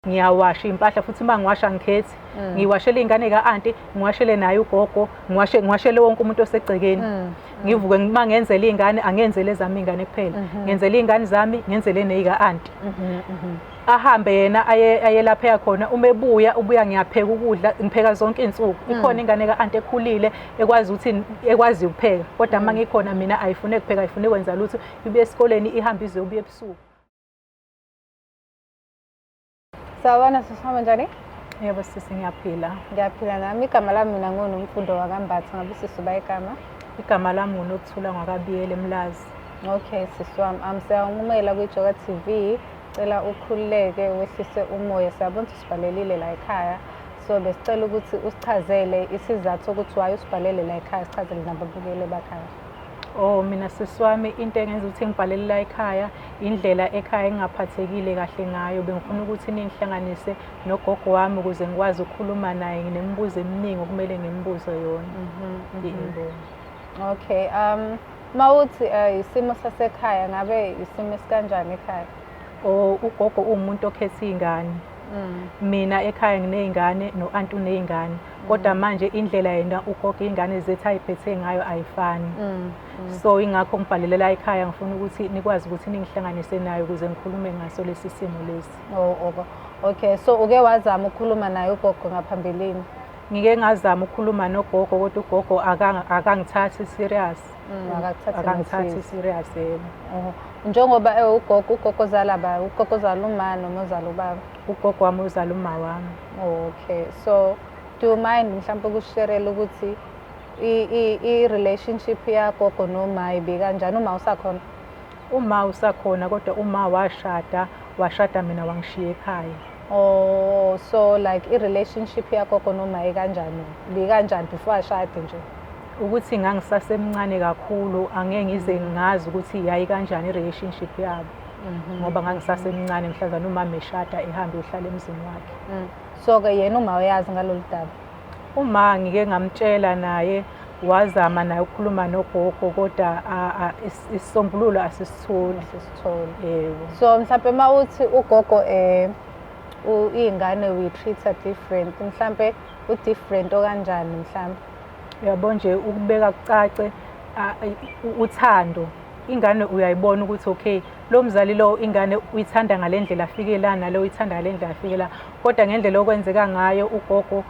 ngiyawasha impahla futhi uma ngiwasha ngikhethi mm. ngiwashele iy'ngane ka-anti ngiwashele naye ugogo ngiwashele wonke umuntu osegcekeni mm. ngivuke uma ngenzele iy'ngane angenzele ezami iy'ngane kuphela mm-hmm. ngenzele iy'ngane zami ngenzele neyika-anti mm-hmm, mm-hmm. ahambe yena ayelapheka khona uma ebuya ubuya ngiyapheka ukudla ngipheka zonke iy'nsuku mm. ikhona ingane ka-anti ekhulile ekwazi ukuthi ekwazi ukupheka kodwa uma ngikhona mina ayifune kupheka ayifune kwenza lutho ibuye esikoleni ihambe ize ubuye ebusuku Sawubona sisi wami njani? Yebo sisi ngiyaphila. Ngiyaphila nami. Igama lami mina nguNomfundo waKambatha. Ngabe sisi uba igama? Igama lami nguNokuthula Ngwakabiyele Mlazi. Okay sisi wami. Um, siyawunqumela kwiJoka TV. Cela ukhululeke wehlise umoya. Siyabona ukuthi usibhalelile la ekhaya. So besicela ukuthi usichazele isizathu sokuthi why usibhalele la ekhaya sichazele nababukeli bakhaya. Oh mina sisi wami into engenza ukuthi ngibhalele la ekhaya indlela ekhaya engingaphathekile kahle ngayo bengifuna ukuthi ningihlanganise nogogo wami ukuze ngikwazi ukukhuluma naye nginemibuzo eminingi okumele ngimbuze yona mhm, mhm. okay um mawuthi uh, isimo sasekhaya ngabe isimo esikanjani ekhaya oh ugogo uwumuntu okhetha iy'ngane mm. mina ekhaya nginey'ngane no-anti uney'ngane kodwa manje indlela yena ugogo iy'ngane zethu ayiphethe ngayo ayifani mm, mm. so ingakho ngibhalelela ekhaya ngifuna ukuthi nikwazi ukuthi ningihlanganise nayo ukuze ngikhulume ngaso lesi simo lesi oh, oh. okay so uke wazama ukukhuluma naye ugogo ngaphambilini ngike ngazama ukukhuluma nogogo kodwa ugogo akangithathi serious mm, akangithathi serious yebo njengoba ewugogo ugogo zalaba ugogo zalumani noma zalubaba ugogo wami uzala uma wami okay so do you mind mhlawumpe ukusherela ukuthi i-relationship yagogo noma ibikanjani uma usakhona uma usakhona kodwa uma washada washada mina wangishiya ekhaya oh so like i-relationship yagogo noma ikanjani bikanjani before ashade nje ukuthi ngangisasemncane kakhulu angeke ngize ngazi ukuthi yayi kanjani i-relationship yabo mhm. ngoba ngangisasemncane mhlazana umama eshada ehambe ehlala emzini wakhe mm. so-ke yena uma uyazi ngalolu daba uma ngike ngamtshela naye wazama naye ukukhuluma nogogo kodwa isisombululo asisitholi asisitholi yebo so mhlawumpe uma uthi ugogo um iy'ngane we treat her different mhlawumpe u-different okanjani mhlawumpe uyabo nje ukubeka kucace uthando ingane uyayibona ukuthi okay lo mzali lo ingane uyithanda ngale ndlela afike la nalo uyithanda ngale ndlela afike la kodwa ngendlela okwenzeka ngayo ugogo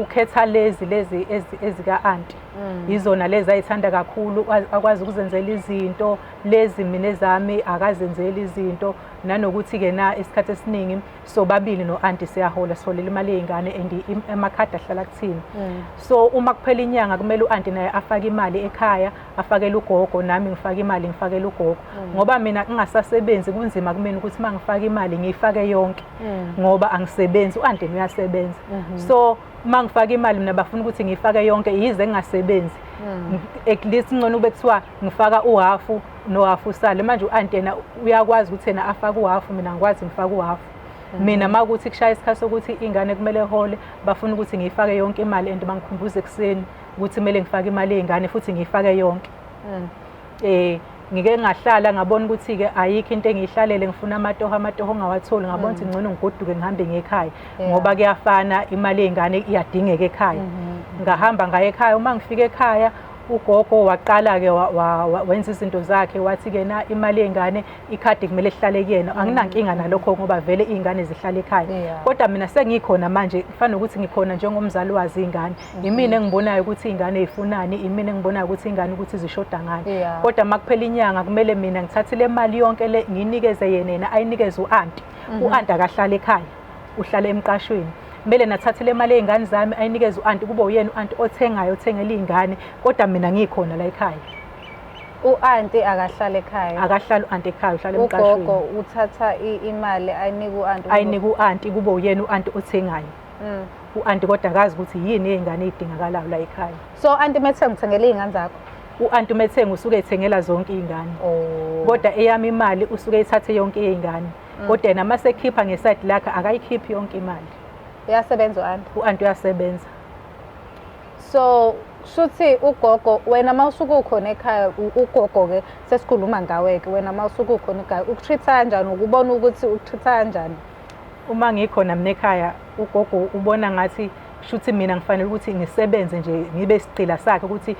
ukhetha lezi lezi ezika-anti mm. yizona lezi ayithanda kakhulu akwazi ukuzenzela izinto lezi mina ezami akazenzeli izinto nanokuthi-ke na isikhathi esiningi sobabili no-anti siyahola siholela imali yey'ngane and amakhadi ahlala kuthina mm. so uma kuphela inyanga kumele u-anti naye afake imali ekhaya afakele ugogo nami ngifake imali ngifakele ugogo mm. ngoba mina ngingasasebenzi kunzima kumina ukuthi uma ngifake imali ngiyifake yonke mm. ngoba angisebenzi u-andeni uyasebenza mm-hmm. so uma ngifake imali mina bafuna ukuthi ngiyifake yonke yize ngingasebenzi mm. at least ngcono ube kuthiwa ngifaka uhafu nohafu usale manje u-anti yena uyakwazi ukuthi yena afake uhafu mina ngikwazi ngifake uhafu mm-hmm. mina uma kuthi kushaya isikhathi sokuthi ingane kumele hole bafuna ukuthi ngiyifake yonke imali and bangikhumbuze ekuseni ukuthi kumele ngifake imali yey'ngane futhi ngiyifake yonke um ngike ngahlala ngabona ukuthi-ke ayikho into engiyihlalele ngifuna amatoho amatoho ongawatholi ngabona ukuthi mm. ngcono ngigoduke ngihambe ngekhaya ngoba kuyafana imali yey'ngane iyadingeka ekhaya mm-hmm. ngahamba ngaye ekhaya uma ngifika ekhaya ugogo waqala-ke wenza izinto zakhe wathi-ke na imali yey'ngane ikhadi kumele lihlale kuyena mm. anginankinga nalokho ngoba vele iy'ngane zihlale ekhaya kodwa mina sengikhona manje kufana nokuthi ngikhona njengomzali wazi iy'ngane imina engibonayo ukuthi ingane ifunani imina engibonayo ukuthi ingane ukuthi zishoda ngani yeah. kodwa uma kuphela inyanga kumele mina ngithathe le mali yonke le nginikeze yena yena ayinikeze u-anti mm -hmm. u-anti akahlale ekhaya uhlale emqashweni kumele nathathe le mali ey'ngane zami ayinikeze u-anti kube uyena u-anti othengayo othengela iy'ngane kodwa mina ngikhona la ekhaya u-anti akahlale ekhaya akahlale u-anti ekhaya uhlale emqashweni ugogo uthatha imali ayinike u-anti ayinike u-anti kube uyena u-anti othengayo Mm. U-anti kodwa akazi ukuthi yini ey'ngane ey'dingakalayo la ekhaya. So anti methenge uthengele iy'ngane zakho? U-anti umethenge usuke ethengela zonke iy'ngane. Oh. Kodwa eyami imali usuke ethathe yonke iy'ngane. Mm. Kodwa yena uma sekhipha ngesayidi lakhe akayikhiphi yonke imali. Uyasebenza u-anti? U-anti uyasebenza. So shuthi ugogo wena uma usuke ukhona ekhaya ugogo-ke sesikhuluma ngawe-ke wena uma usuke ukhona ekhaya ukutreat-a kanjani ukubona ukuthi ukutreat-a kanjani Uma ngikhona mina ekhaya ugogo ubona ngathi shuthi mina ngifanele ukuthi ngisebenze nje ngibe isigqila sakhe ukuthi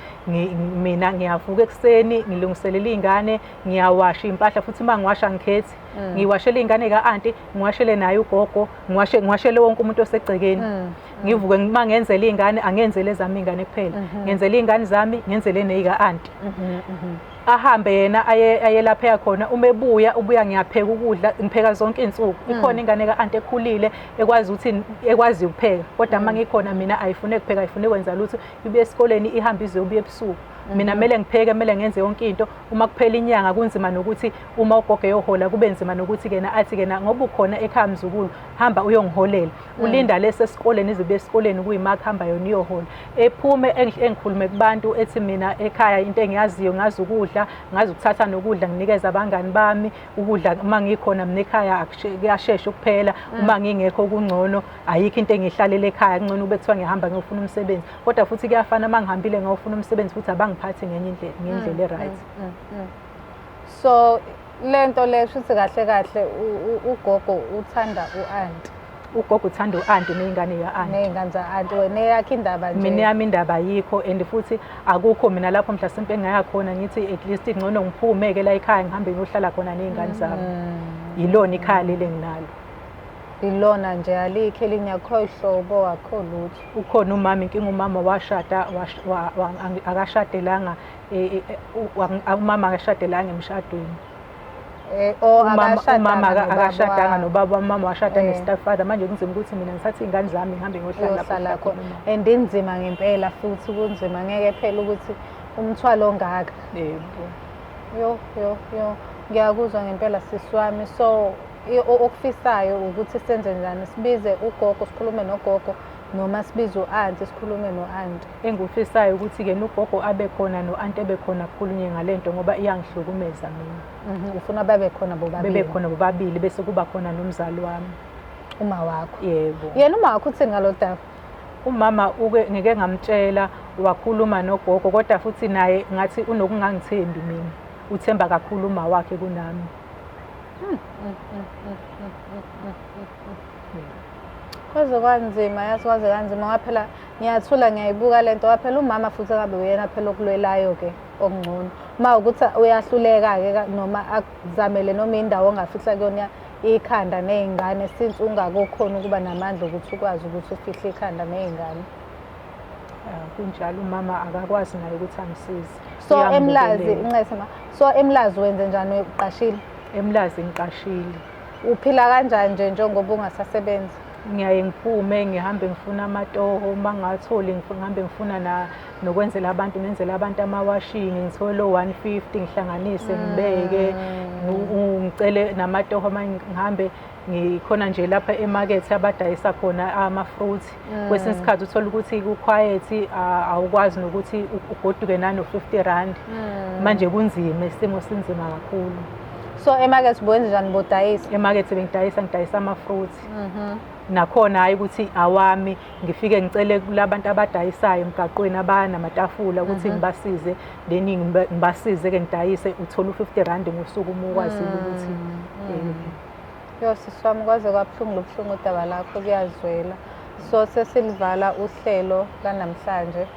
mina ngiyavuka ekuseni ngilungiselela iy'ngane ngiyawasha iy'mpahla futhi uma ngiwasha ngikhethi mm. ngiwashele iy'ngane ka-anti ngiwashele naye ugogo ngiwashele wonke umuntu osegcekeni mm. ngivuke uma ngenzela iy'ngane angenzele ezami iy'ngane kuphela mm-hmm. ngenzele iy'ngane zami ngenzele neyika-anti mm-hmm, mm-hmm. ahambe yena aye aye lapha eya khona uma ebuya ubuya ngiyapheka ukudla ngipheka zonke izinsuku mm. ikhona ingane ka anti ekhulile ekwazi ukuthi ekwazi ukupheka kodwa uma mm. ngikhona mina ayifune kupheka ayifune kwenza lutho ibuye esikoleni ihamba ize ubuye ebusuku mm-hmm. mina kumele ngipheke kumele ngenze yonke into uma kuphela inyanga kunzima nokuthi uma ugogo eyohola kube nzima nokuthi kena athi kena ngoba ukhona ekhaya mzukulu hamba uyongiholela mm. ulinda lesi esikoleni izibe esikoleni kuyimakho hamba yona iyohola ephume engikhulume kubantu ethi mina ekhaya into engiyaziyo ngazi ukudla ngazi ukuthatha nokudla nginikeza abangani bami ukudla uma ngikhona mina ekhaya kuyashesha ukuphela mm. uma ngingekho kungcono ayikho into engihlalele ekhaya kungcono ube kuthiwa ngihamba ngiyofuna umsebenzi kodwa futhi kuyafana uma ngihambile ngiyofuna umsebenzi futhi abangiphathi ngenye indlela ngendlela mm, e-right mm, so Le nto le shuthi kahle kahle ugogo uthanda u-anti. Ugogo uthanda u-anti ney'ngane ya-anti. Ney'ngane za-anti wena eyakho indaba nje. Mina yami indaba ayikho and futhi akukho mina lapho mhlasimpe engaya khona ngithi at least ngcono ngiphume-ke la ekhaya ngihambe ngiyohlala khona ney'ngane zami. Mm. Yilona ikhaya leli enginalo. ilona nje alikho elinye akho hlobo akho lutho ukhona umama inkinga umama washada akashadelanga umama akashadelanga emshadweni eh, oh, umama akashadanga nobaba umama washada eh. nestepfather manje kunzima ukuthi mina ngithathe iy'ngane zami ngihambe ngohlala khona and inzima ngempela futhi kunzima ngeke phela ukuthi umthwalo ongaka yebo yo yo yo ngiyakuzwa ngempela sisi wami so okufisayo ukuthi senze njani sibize ugogo sikhulume nogogo noma sibize u-anti sikhulume no-anti Engikufisayo ukuthi-ke nogogo abe khona no-anti ebe khona kukhulunywe ngale nto ngoba iyangihlukumeza mina. Mhm, ufuna babe khona bobabili? Bebe khona bobabili bese kuba khona nomzali wami. Uma wakho? Yebo. Yena uma wakho uthini ngalo daba? Umama uke ngike ngamtshela wakhuluma nogogo kodwa futhi naye ngathi unokungangithembi mina. Uthemba kakhulu uma wakhe kunami. Hmm, hmm, hmm, Kwaze kwanzima yazi kwaze kanzima waphela ngiyathula ngiyayibuka le nto phela umama futhi akabe uyena phela okulwelayo-ke okungcono uma ukuthi uyahluleka-ke noma akuzamele noma indawo ongafihla kuyona ikhanda ney'ngane since ungakokhona ukuba namandla okuthi ukwazi ukuthi ufihle ikhanda ney'ngane ah, kunjalo umama akakwazi naye ukuthi angisize so emlazi ncese ma so emlazi wenze njani uqashile emlazi ngiqashile uphila kanjani nje njengoba ungasasebenzi ngiyaye ngiphume ngihambe ngifuna amatoho uma ngatholi ngihambe ngifuna na nokwenzela abantu ngenzela abantu amawashini ngithole o-one fifty ngihlanganise mm. ngibeke ngicele namatoho uma ngihambe ngikhona nje lapha emakethe abadayisa khona ama-fruit mm. kwesinye isikhathi uthole ukuthi kukhwayethi awukwazi nokuthi ugoduke nano-fifty rand mm. manje kunzima isimo sinzima kakhulu so emakethe ubuwenze njani bodayisa emakethe bengidayisa ngidayisa ama-fruits Mhm. nakhona hhayi ukuthi awami ngifike ngicele kulabantu abadayisayo emgaqweni abanamatafula ukuthi Mhm. ngibasize then ngiba- ngibasize-ke ngidayise uthole u-fifty rand ngosuku uma ukwazile ukuthi Mm, eh, mm. Yo sisi wami kwaze kwabuhlungu lobuhlungu udaba lakho kuyazwela. So sesilivala uhlelo lanamhlanje.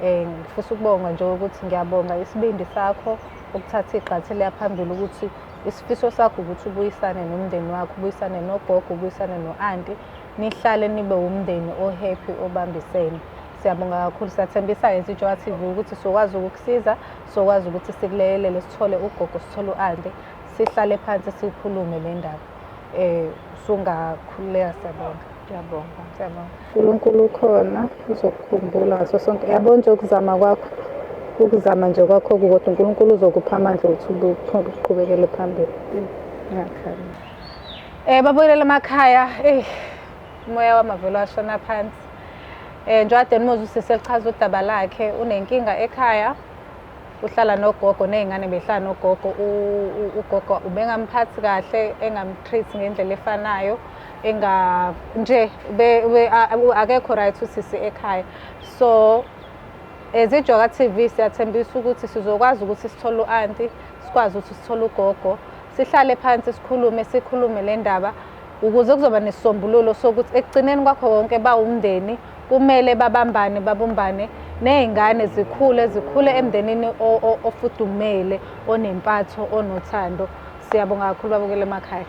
Eh ngifisa ukubonga nje ukuthi ngiyabonga isibindi sakho ukuthatha igxathi leya phambili ukuthi Isifiso sakho ukuthi ubuyisane nomndeni wakho, ubuyisane nogogo, ubuyisane no-anti, nihlale nibe wumndeni o-happy obambisene. Siyabonga kakhulu, siyathembisa-ke njengoba TV ukuthi sokwazi ukukusiza, sokwazi ukuthi sikuleyelele, sithole ugogo, sithole u-anti, sihlale phansi siyikhulume le ndaba. Eh sungakhululeka siyabonga. Ngiyabonga. Siyabonga. uNkulunkulu ukhona uzokukhumbula ngaso sonke yabo nje ukuzama kwakho ukuzama nje kwakho kukodwa uNkulunkulu uzokupha amandla ukuthi uqhubekele phambili ngiyakhala eh babuyelele emakhaya eh umoya wamavelo ashona phansi eh njengoba Denmoz usise lichaza udaba lakhe unenkinga ekhaya uhlala nogogo nezingane behlala nogogo ugogo ubengamphathi kahle engamtreat ngendlela efanayo enga nje akekho right usisi ekhaya so as ijoka TV siyathembisa ukuthi sizokwazi ukuthi sithole u-anti sikwazi ukuthi sithole ugogo sihlale phansi sikhulume sikhulume le ndaba ukuze kuzoba nesisombululo sokuthi ekugcineni kwakho konke bawumndeni Kumele babambane babumbane nezingane zikhule zikhule emndenini ofudumele onempatho onothando. Siyabonga kakhulu babukele emakhaya.